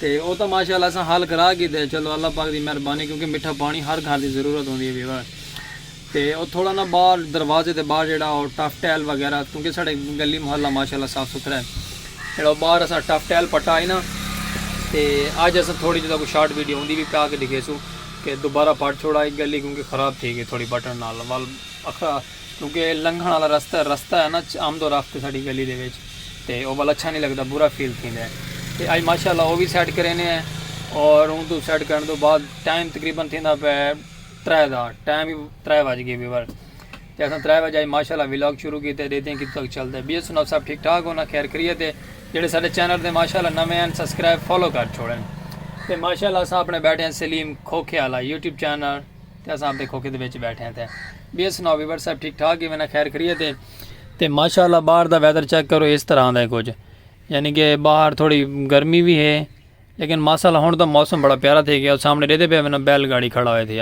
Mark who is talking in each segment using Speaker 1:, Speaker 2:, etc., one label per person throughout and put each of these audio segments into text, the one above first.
Speaker 1: تے او تاں ماشاء اللہ اساں حل کرا گھیدے چلو اللہ پاک دی مہربانی کیونکہ مٹھا پانی ہر گھر دی ضرورت ہوندی ہے ویور تے او تھوڑا نا باہر دروازے دے باہر جیڑا او ٹف ٹیل وغیرہ کیونکہ ساڈے گلی محلہ ماشاء اللہ صاف ستھرا ہے جیڑا او باہر اساں ٹف ٹیل پٹا ہے نا تے اج اساں تھوڑی جدا کو شارٹ ویڈیو ہوندی بھی پیا کے دکھیسوں کہ دوبارہ پٹ چھوڑا ایک گلی کیونکہ خراب تھی گئی تھوڑی بٹن نال وال اکھرا کیونکہ اے لنگھݨ آلا رستہ ہے رستہ ہے نا آمد و رفت ساڈی گلی دے وچ تے او ول اچھا نی لگدا برا فیل تھیندا ہے تے اج ماشاءاللہ او وی سیٹ کرینے ہیں اور اوں توں سیٹ کرݨ توں بعد ٹائم تقریبا تھیندا پئے ترے دا ٹائم وی ترے وج گئے ویور تے اساں ترے وجے اج ماشاءاللہ ولاگ شروع کیتے ڈیکھدے ہیں کتھوں تک چلدا ہے بی ایس سناؤ صاحب ٹھیک ٹھاک ہو نا خیر خریت ہے جیڑھے ساڈے چینل تے ماشاءاللہ نویں ہیں سبسکرائب فالو کر چھوڑن تے ماشاءاللہ اساں اپݨے بیٹھے ہیں سلیم کھوکھے آلا یوٹیوب چینل تے اساں اپنے کھوکھے دے وچ بیٹھے ہیں تے بیئے سناؤ ویور صاحب ٹھیک ٹھاک ہی میں نہ خیر خریت ہے تے ماشاءاللہ باہر دا ویدر چیک کرو اس طرح دا ہے کچھ یعنی کہ باہر تھوڑی گرمی بھی ہے لیکن ماشاءاللہ ہون دا موسم بڑا پیارا تھے گیا سامنے ریدے پہ میں بیل گاڑی کھڑا ہوئے تھے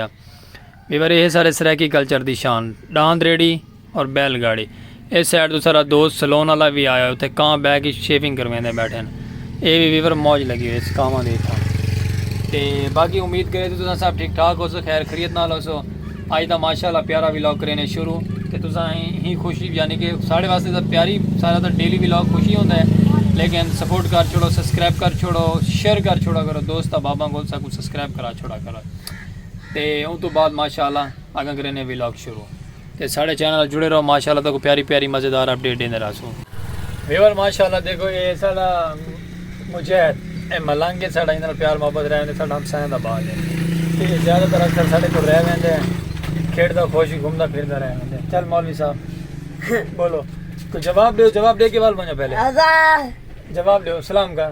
Speaker 1: ویور یہ سارے سریکی کلچر دی شان ڈاند ریڈی اور بیل گاڑی اے سائیڈ توں سارا دوست سلون والا وی آیا ہوئے تھے کاں بیٹھ کے شیونگ کرویندے بیٹھے ہیں اے وی ویور موج لگی ہوئے اس کاں دے تھا تے باقی امید کرے تو تساں سب ٹھیک ٹھاک ہو سو خیر خریت نال ہو سو آج دا ماشاءاللہ پیارا ویلاگ کرینے شروع تے تساں ہی خوشی یعنی کہ ساڑے واسطے دا پیاری سارا دا ڈیلی ویلاگ خوشی ہوندے ہیں لیکن سپورٹ کر چھوڑو سبسکرائب کر چھوڑو شیئر کر چھوڑا کرو دوست احباباں کو سکو سبسکرائب کرا چھوڑا کرو تے اون تو بعد ماشاءاللہ اگاں کرینے ویلاگ شروع تے ساڑے چینل نال جڑے رہو ماشاءاللہ تہاکوں پیاری پیاری مزیدار اپڈیٹ ڈیندے رہسوں۔ ویور ماشاءاللہ دیکھو اے ساڑا مجاہد اے ملنگ اے ساڑا ایندے نال پیار محبت رہ ویندے ساڑا ہمسایاں دا بال اے تے اے زیادہ تر اکثر ساڑے کول رہ ویندے کھیڈدا خوش گھومدا پھردا رہ ویندے چل مولوی صاحب بولو کوئی جواب ڈیو جواب ڈے کے ول ونجو پہلے جواب ڈیو سلام کر۔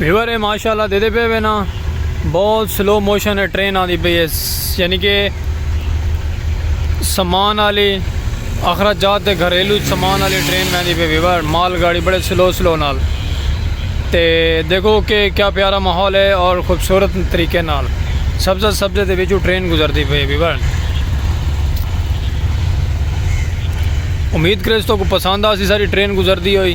Speaker 1: ویور ہے ماشاءاللہ دے دے پہ وے نا بہت سلو موشن ہے ٹرین آدھی پہ ہے یعنی کہ سامان آلی اخراجات جات دے گھریلو سامان آلی ٹرین میں دی پہ ویور مال گاڑی بڑے سلو سلو نال تے دیکھو کہ کیا پیارا ماحول ہے اور خوبصورت طریقے نال سبزہ سبزے دے ویچو ٹرین گزر دی پہ ویور امید کرے اس تو کو پسند آسی ساری ٹرین گزر دی ہوئی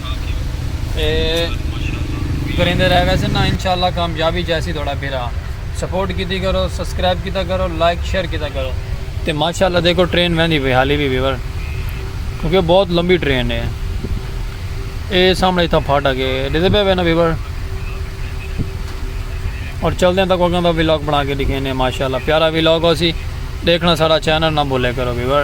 Speaker 1: تے کریندے رہ ویسے نا انشاءاللہ کامیابی جیسی تھوڑا بھرا سپورٹ کیتی کرو سبسکرائب کیتا کرو لائک شیئر کیتا کرو تے ماشاءاللہ دیکھو ٹرین ویندی پئی حالی بھی ویور کیونکہ بہت لمبی ٹرین ہے اے سامنے تھا پھاٹا کے ڈیدے پہ وینا ویور اور چل دیں تک اگاں دا ویلاگ بنا کے دکھینے ماشاءاللہ پیارا ویلاگ ہو سی دیکھنا سارا چینل نہ بھولے کرو ویور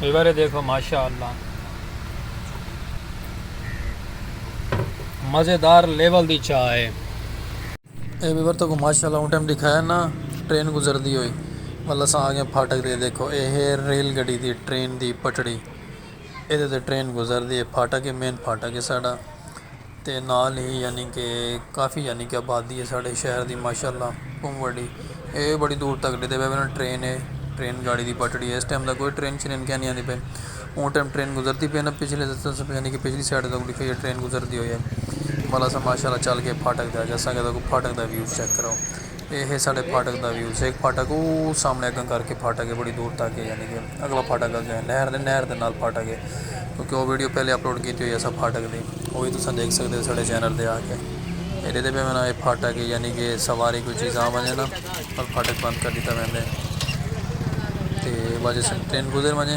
Speaker 1: ایوارے دیکھو ماشاء اللہ مزیدار لیول دی چاہ ہے اے ویور تو کو ماشاء اللہ اون ٹائم دکھایا نا ٹرین گزردی ہوئی مطلب اساں آ گئے پھاٹک دے دیکھو اے ہے ریل گڈی دی ٹرین دی پٹڑی اے دے تے ٹرین گزردی ہے پھاٹک ہے مین پھاٹک ہے ساڈا تے نال ہی یعنی کہ کافی یعنی کہ آبادی ہے ساڑھے شہر دی ماشاء اللہ بہوں وڈی اے بڑی دور تک ڈیدھے پے پہلے ٹرین ہے ٹرین گاڑی دی پٹڑی ہے اس ٹائم دا کوئی ٹرین شرین کہنی آندی پے اوں ٹائم ٹرین گزرتی پے نا پچھلے یعنی کہ پچھلی سائڈ تک ڈکھے یہ ٹرین گزرتی ہوئی ہے بھلا سا ماشاء اللہ چل کے پھاٹک دے آ جاں ساں کہ تاکہ پھاٹک دا ویو چیک کرو اے ہے ساڈے پھاٹک دا ویو سیک پھاٹک او سامنے اگاں کر کے پھاٹک ہے بڑی دور تک ہے یعنی کہ اگلا پھاٹک اگے نہر دے نہر دے نال پھاٹک ہے کیونکہ او ویڈیو پہلے اپلوڈ کیتی ہوئی ہے سب پھاٹک دی او وی تساں دیکھ سکدے ہو ساڈے چینل دے آ کے اے ڈیدے پہ میں نا اے پھاٹک ہے یعنی کہ سواری کوئی چیز آ ونجے نا اور پھاٹک بند کر دیتا ویندے تے وجہ سے ٹرین گزر ونجے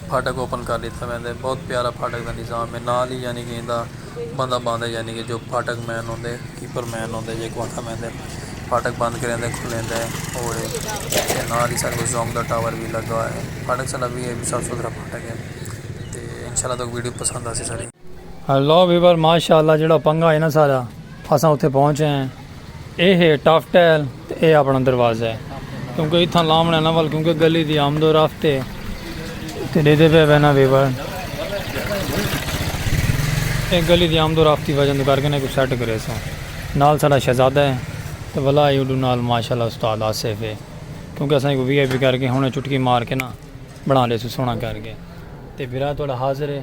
Speaker 1: پھاٹک اوپن کر لیتا ویندے بہت پیارا پھاٹک دا نظام ہے نال ہی یعنی کہ ایندا بندہ باندھے یعنی کہ جو پھاٹک مین ہوندے کیپر مین ہوندے جیکو آکھا میندے پھاٹک بند کریندے کھلیندے اوڑے تے نال ہی ساڈے کو زونگ دا ٹاور وی لگا ہے پھاٹک ساڈا وی ہے وی صاف ستھرا پھاٹک ہے تے انشاء اللہ تک ویڈیو پسند آسی ساڈی۔ ہیلو ویور ماشاءاللہ جیڑا پنگا ہے نا سارا اساں اتھے پہنچ ہیں۔ اے ہے ٹاف ٹیل تے اے اپنڑاں دروازہ ہے کیونکہ اتھاں لاونڑاں نہ ول کیونکہ گلی دی آمد و رفت ہے تے ڈیدھے پئے پئے نہ ویور اے گلی دی آمد و رفت دی وجہ توں کر کے نہ کو سیٹ کرے سوں نال ساڈا شہزادہ ہے تے ولا اے اوڈو نال ماشاءاللہ استاد آصف ہے کیونکہ اساں کو وی آئی پی کر کے ہنڑے چٹکی مار کے نہ بنڑا ڈیسوں سوہنڑاں کر کے تے بھرا تہاڈا حاضر ہے۔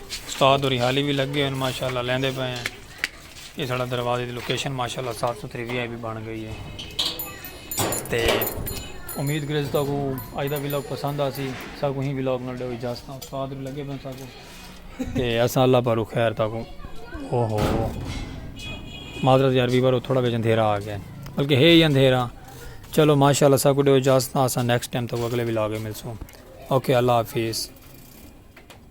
Speaker 1: استاد ہوری حالی وی لگے ہوئے ماشاءاللہ لیندے پئے ہیں یہ ساڑا دروازے دی لوکیشن ماشاءاللہ صاف ستھری وی آئی بھی بن گئی ہے تے امید کرے ستا کو آج دا ویلاگ پسند آسی سا کو ہی ویلاگ نال ڈیو اجازت ہاں استاد ہوری لگے پئے سا کو تے اساں اللہ پارو خیر تا کو او ہو معذرت یار ویور تھوڑا وچ اندھیرا آ گیا بلکہ ہے ہی اندھیرا چلو ماشاءاللہ سا کو ڈیو اجازت ہاں اساں نیکسٹ ٹائم تک اگلے ویلاگ ملسوں اوکے اللہ حافظ